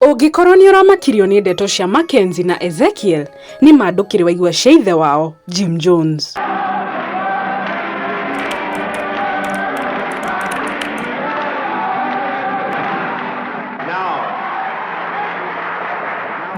Ũngĩkorwo nĩ ũramakirio nĩ ndeto cia Makenzi na Ezekiel, nĩ ma ndũkĩrĩ waigua cia ithe wao, Jim Jones.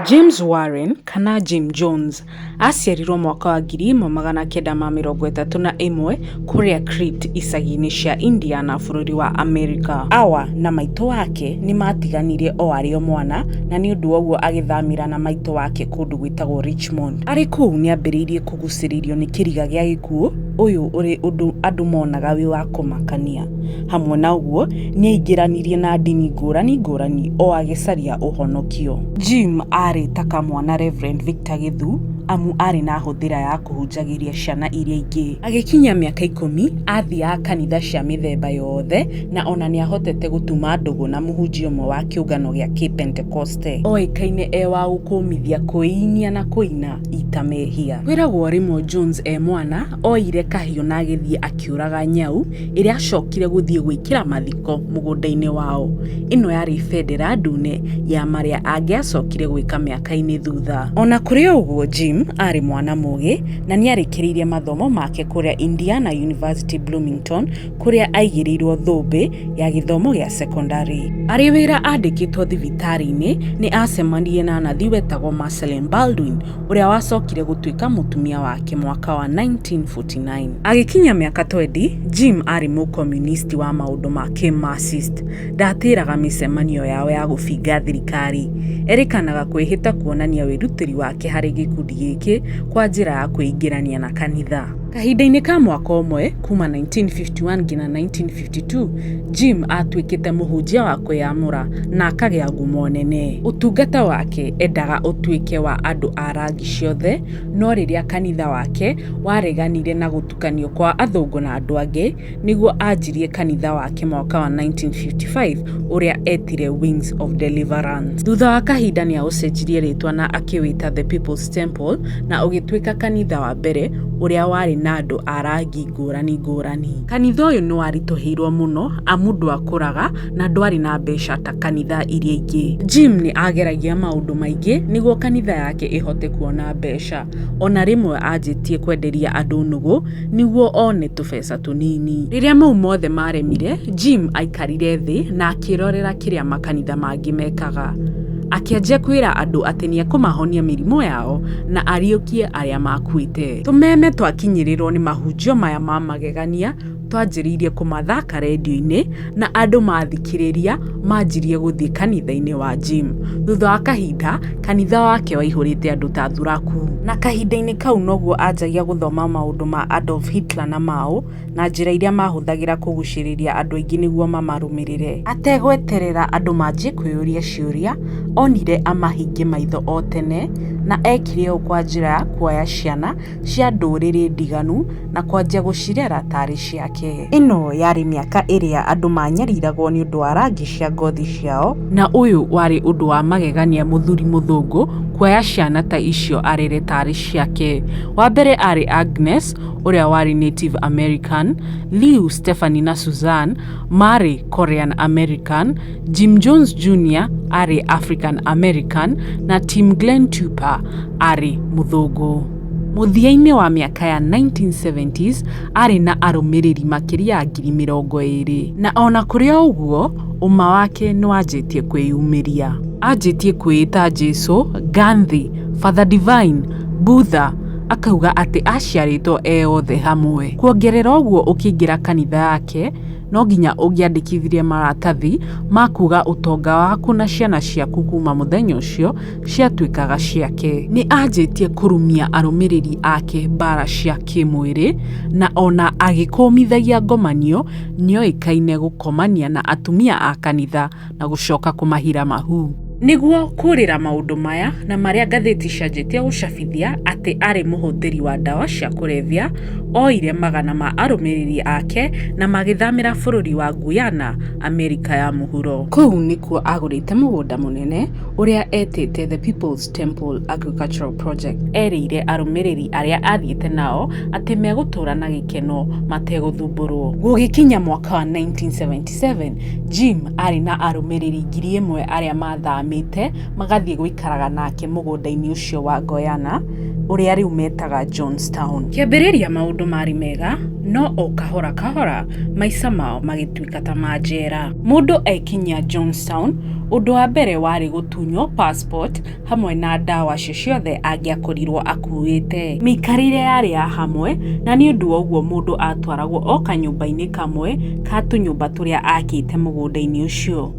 James Warren kana Jim Jones Aaciarirũo mwaka wa 1931 kũrĩa Crete icagi-inĩ cia Indiana bũrũri wa Amerika. Awa na maitũ wake nĩ maatiganirie o arĩ o mwana, na nĩ ũndũ woguo agĩthamĩra na maitũ wake kũndũ gwĩtagwo Richmond. Arĩ kũu nĩ aambĩrĩirie kũgucĩrĩrio nĩ kĩriga gĩa gĩkuũ, ũyũ ũrĩ ũndũ andũ monaga wĩ wa kũmakania. Hamwe na ũguo, nĩ aaingĩranirie na ndini ngũrani ngũrani o agĩcaria ũhonokio. Jim aarĩ ta kamwana Rev. Victor Githu amu aarĩ na hũthĩra ya kũhunjagĩria ciana iria ingĩ. Agĩkinyia mĩaka ikũmi, aathiaga kanitha cia mĩthemba yothe na o na nĩ aahotete gũtuma ndũgũ na mũhunjia ũmwe wa kĩũngano gĩa Kĩpentekoste. Oĩkaine e wa gũkũũmithia, kwĩinia na kũina ita mehia. Kwĩragwo rĩmwe Jones e mwana, ooire kahiũ na agĩthiĩ akĩũraga nyau ĩrĩa acokire gũthiĩ gwĩkĩra mathiko mũgũnda-inĩ wao. Ĩno yarĩ bendera ndune ya marĩa angĩacokire gwĩka mĩaka-inĩ thutha. O na kũrĩ ũguo, Jim aarĩ mwana mũũgĩ na nĩ aarĩkĩrĩirie mathomo make kũrĩa Indiana University Bloomington, kũrĩa aaigĩrĩirũo thũmbĩ ya gĩthomo gĩa sekondarĩ. Arĩ wĩra andĩkĩtwo thibitarĩ-inĩ, nĩ aacemanirie na nathi wetagwo Marceline Baldwin, ũrĩa wacokire gũtuĩka mũtumia wake mwaka wa 1949. Agĩkinyia mĩaka 20, Jim aarĩ Mũkomunisti wa maũndũ ma kĩ-Marxist. Ndaatĩraga mĩcemanio yao ya gũbinga thirikari. Erĩkanaga kwĩhĩta kuonania wĩrutĩri wake harĩ gĩkundi gĩkĩ kwa njĩra ya kwĩingĩrania na kanitha. Kahinda-inĩ ka mwaka ũmwe, kuuma 1951 nginya 1952, Jim aatuĩkĩte mũhunjia wa kwĩyamũra na akagĩa ngumo nene. Ũtungata wake endaga ũtuĩke wa andũ a rangi ciothe, no rĩrĩa kanitha wake wareganire na gũtukanio kwa athũngũ na andũ angĩ, nĩguo anjirie kanitha wake mwaka wa 1955 ũrĩa eetire Wings of Deliverance. Thutha wa kahinda nĩ aũcenjirie rĩĩtwa na akĩwĩta The People's Temple na ũgĩtuĩka kanitha wa mbere ũrĩa warĩ na andũ a rangi ngũrani ngũrani. Kanitha ũyũ nĩ waritũhĩirũo mũno amu ndwakũraga na ndwarĩ na mbeca ta kanitha iria ingĩ. Jim nĩ aageragia maũndũ maingĩ nĩguo kanitha yake ĩhote kuona mbeca. O na rĩmwe aanjĩtie kwenderia andũ nũgũ nĩguo one tũbeca tũnini. Rĩrĩa mau mothe maaremire, Jim aaikarire thĩ na akĩĩrorera kĩrĩa makanitha mangĩ mekaga. Akĩanjia kwĩra andũ atĩ nĩ ekũmahonia mĩrimũ yao na ariũkie arĩa makuĩte. Tũmeme twakinyĩrĩrwo nĩ mahunjio maya ma magegania twanjĩrĩirie kũmathaka redio-inĩ na andũ mathikĩrĩria manjirie gũthiĩ kanitha-inĩ wa Jim. Thutha wa kahinda kanitha wake waihũrĩte andũ ta thuraku. Na kahinda-inĩ kau noguo anjagia gũthoma maũndũ ma Adolf Hitler na Mao na njĩra iria maahũthagĩra kũgucĩrĩria andũ aingĩ nĩguo mamarũmĩrĩre. Ategweterera andũ manjie kwĩyũria ciũria, onire amahinge maitho o tene, na eekire ũũ kwa njĩra ya kuoya ciana cia ndũrĩrĩ ndiganu na kwanjia gũcirera ta arĩ ciake. Ĩno yarĩ mĩaka ĩrĩa andũ maanyariragwo nĩ ũndũ wa rangi cia ngothi ciao, na ũyũ warĩ ũndũ wa magegania mũthuri mũthũngũ kuoya ciana ta icio arere ta arĩ ciake. Wa mbere aarĩ Agnes, ũrĩa warĩ Native American, Liu, Stephanie na Suzanne maarĩ Korean American, Jim Jones Jr. aarĩ African American na Tim Glen Tuper aarĩ mũthũngũ. Mũthia-inĩ wa mĩaka ya 1970s arĩ na arũmĩrĩri makĩria ya ngiri mĩrongo ĩrĩ. Na o na kũrĩ o ũguo, ũma wake nĩ wanjĩtie kwĩyumĩria. Anjĩtie kwĩĩta Jesu, Gandhi, Father Divine, Buddha, Akauga atĩ aciarĩtwo e othe hamwe. Kuongerera ũguo ũkĩingĩra kanitha yake no nginya ũngĩandĩkithirie maratathi ma kuga ũtonga waku na ciana ciaku kuma mũthenya ũcio ciatuĩkaga ciake. Nĩ anjĩtie kũrumia arũmĩrĩri ake mbara cia kĩmwĩrĩ na ona agĩkũmithagia ngomanio nĩoĩkaine gũkomania na atumia a kanitha. na gũcoka kũmahira mahu. Nĩguo kũrĩra maũndũ maya na marĩa ngathĩti cianjĩtie gũcabithia atĩ arĩ mũhũthĩri wa ndawa cia kũrebia, oire magana ma arũmĩrĩri ake na magĩthamĩra bũrũri wa Guyana, Amerika ya Mũhuro. Kũu nĩkuo agũrĩte mũgũnda mũnene ũrĩa etĩte The People's Temple Agricultural Project. Erĩire arũmĩrĩri arĩa athiĩte nao atĩ megũtũũra na gĩkeno mategũthumbũrũo. Gũgĩkinya mwaka wa 1979, 1957, Jim aarĩ na arũmĩrĩri ngiri ĩmwe arĩa maathamĩte magathiĩ gũikaraga nake mũgũnda-inĩ ũcio wa Guiana, ũrĩa rĩu metaga Johnstown. Kĩambĩrĩria maũndũ maarĩ mega, no o kahora kahora maica mao magĩtuĩka ta ma njera. Mũndũ ekinyia Johnstown, ũndũ wa mbere warĩ gũtunywo passport hamwe na ndawa acio ciothe angĩakorirwo akuuĩte. Mĩikarĩre yarĩ ya hamwe, na nĩ ũndũ wa ũguo mũndũ aatwaragwo o kanyũmba-inĩ kamwe ka tũnyũmba tũrĩa aakĩte mũgũnda-inĩ ũcio.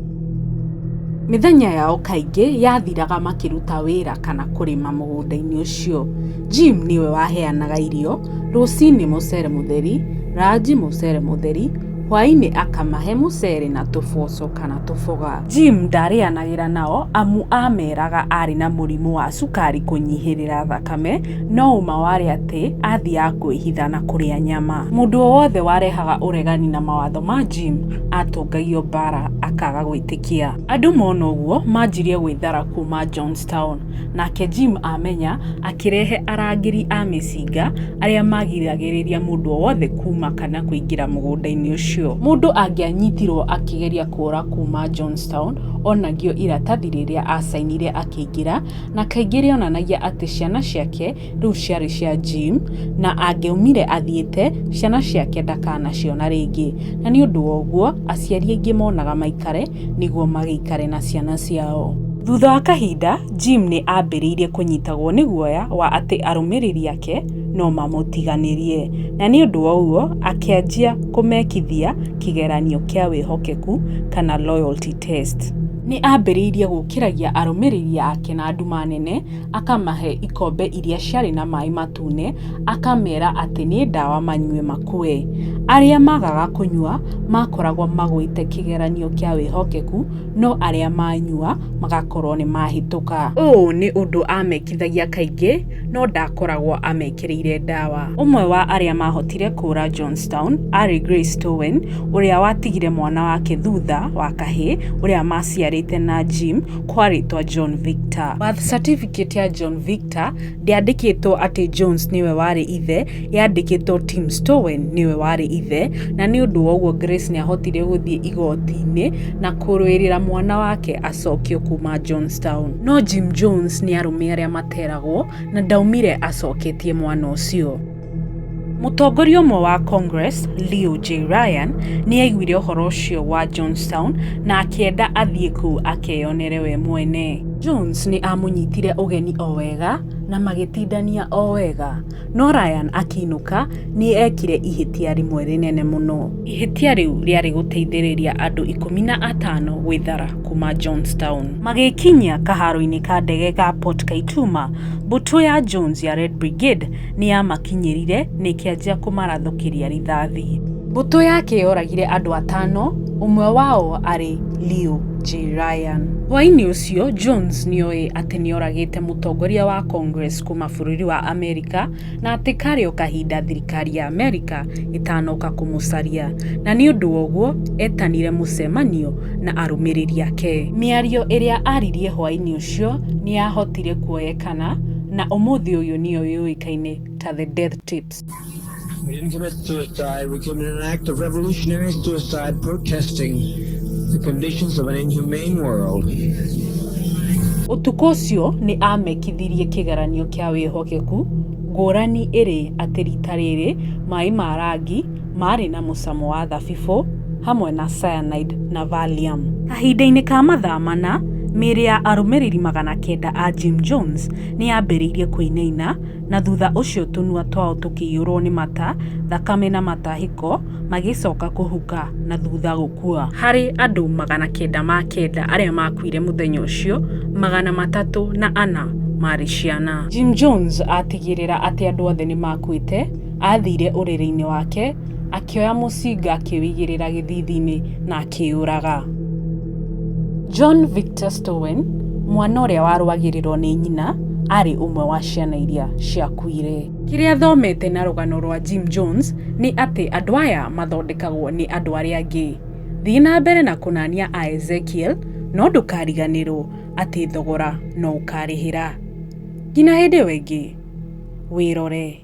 Mĩthenya yao kaingĩ yathiraga makĩruta wĩra kana kũrĩma mũgũnda-inĩ ũcio. Jim nĩwe waheanaga irio, rũcinĩ mũcere mũtheri, ranji mũcere mũtheri, Hwaĩ-inĩ akamahe mũcere na tũboco kana tũboga. Jim ndaarĩanagĩra nao amu aameeraga aarĩ na mũrimũ wa cukari kũnyihĩrĩra thakame, no ũma warĩ atĩ aathiaga kwĩhitha na kũrĩa nyama. Mũndũ o wothe warehaga ũregani na mawatho ma Jim aatũngagio mbaara akaaga gwĩtĩkia. Andũ mona ũguo manjirie gwĩthara kuuma Johnstown. Nake Jim amenya, akĩrehe arangĩri a mĩcinga arĩa maagiragĩrĩria mũndũ o wothe kuuma kana kũingĩra mũgũnda-inĩ ũcio. Mũndũ angĩanyitirũo akĩgeria kũũra kuuma Johnstown, onagio iratathi rĩrĩa aacainire akĩingĩra, na kaingĩ rĩonanagia atĩ ciana ciake rĩu ciarĩ cia Jim, na angĩaumire athiĩte, ciana ciake ndakanaciona rĩngĩ. Na nĩ ũndũ wa ũguo, aciari aingĩ monaga maikare nĩguo magĩikare na ciana ciao. Thutha wa kahinda, Jim nĩ aambĩrĩirie kũnyitagwo nĩ guoya wa atĩ arũmĩrĩri ake no mamũtiganĩrie, na nĩ ũndũ wa ũguo akĩanjia kũmekithia kĩgeranio kĩa wĩhokeku, kana loyalty test. Nĩ aambĩrĩirie gũkĩragia arũmĩrĩri ake na nduma nene. akamahe ikombe iria ciarĩ na maĩ matune, akameera atĩ nĩ ndawa manyue makue. Arĩa maagaga kũnyua maakoragwo magwĩte kĩgeranio kĩa wĩhokeku, no arĩa maanyua magakorũo nĩ maahĩtũka. Ũũ nĩ ũndũ aamekithagia kaingĩ, no ndaakoragwo amekĩrĩire ndawa. Ũmwe wa arĩa maahotire kũũra Johnstown aarĩ Grace Stowen, ũrĩa watigire mwana wake thutha wa kahĩĩ ũrĩa maaciarĩte na Jim, kwarĩtwa John Victor. Birth certificate ya John Victor ndĩandĩkĩtwo atĩ Jones nĩwe warĩ ithe, yandĩkĩtwo Tim Stowen nĩwe warĩ ithe, na nĩ ũndũ wa ũguo Grace nĩahotire gũthiĩ igoti-inĩ na kũrũĩrĩra mwana wake acokio kuma Johnstown. No Jim Jones nĩ arũme arĩa materagwo na ndaumire acoketie mwana ũcio. Mũtongoria ũmwe wa Congress, Leo J. Ryan, nĩ aiguire ũhoro ũcio wa Johnstown na akĩenda athiĩ kũu akeyonere we mwene. Jones nĩ aamũnyitire ũgeni o wega na magĩtindania o wega. No Ryan akĩinũka nĩ eekire ihĩtia rĩmwe rĩnene mũno. Ihĩtia rĩu rĩarĩ gũteithĩrĩria andũ ikũmi na atano gwĩthara kuma Johnstown. Magĩkinyia kaharo-inĩ ka ndege ga Port Kaituma, mbũtũ ya Jones ya Red Brigade nĩ yamakinyĩrire na ĩkĩanjia kũmarathũkĩria rithathi. Mbũtũ yake yoragire andũ atano, ũmwe wao arĩ Liu Jiran. Hwaĩ-inĩ ũcio, Jones nĩ oĩ atĩ nĩ oragĩte mũtongoria wa Congress kuuma bũrũri wa Amerika na atĩ karĩ o kahinda thirikari ya Amerika ĩtanoka kũmũcaria, na nĩ ũndũ woguo etanire mũcemanio na arũmĩrĩri ake. Mĩario ĩrĩa aaririe hwaĩ-inĩ ũcio nĩ yahotire kuoyeka. kana na ũmũthĩ ũyũ nĩyo yũĩkaine ta The Death Tapes. We didn't commit suicide, we committed an act of revolutionary suicide protesting the conditions of an inhumane world. Ũtukũ ũcio nĩ aamekithirie kĩgeranio kĩa wĩhokeku, ngũrani ĩrĩ atĩ rita rĩrĩ maĩ ma rangi Maarĩ na mũcamo wa thabibũ hamwe na cyanide na valium. Kahinda-inĩ ka mathaa mana, mĩĩrĩ ya arũmĩrĩri magana kenda a Jim Jones nĩ yambĩrĩirie kũinaina, na thutha ũcio tũnua twao tũkĩiyũrũo nĩ mata, thakame na matahĩko, magĩcoka kũhuka na thutha gũkua. Harĩ andũ magana kenda ma kenda arĩa maakuire mũthenya ũcio, magana matatũ na ana maarĩ ciana. Jim Jones aatigĩrĩra atĩ andũ othe nĩ maakuĩte. Aathire ũrĩrĩ-inĩ wake, akĩoya mũcinga akĩwĩigĩrĩra gĩthithi-inĩ na akĩyũraga. John Victor Stowen, mwana ũrĩa warũagĩrĩrũo nĩ nyina, aarĩ ũmwe wa ciana iria ciakuire. Kĩrĩa thomete na rũgano rwa Jim Jones nĩ atĩ andũ aya mathondekagwo nĩ andũ arĩa angĩ. Thiĩ na mbere na kũnania a Ezekiel, no ndũkariganĩrũo atĩ thogora no ũkarĩhĩra. Nginya hĩndĩ ĩyo ĩngĩ, wĩrore.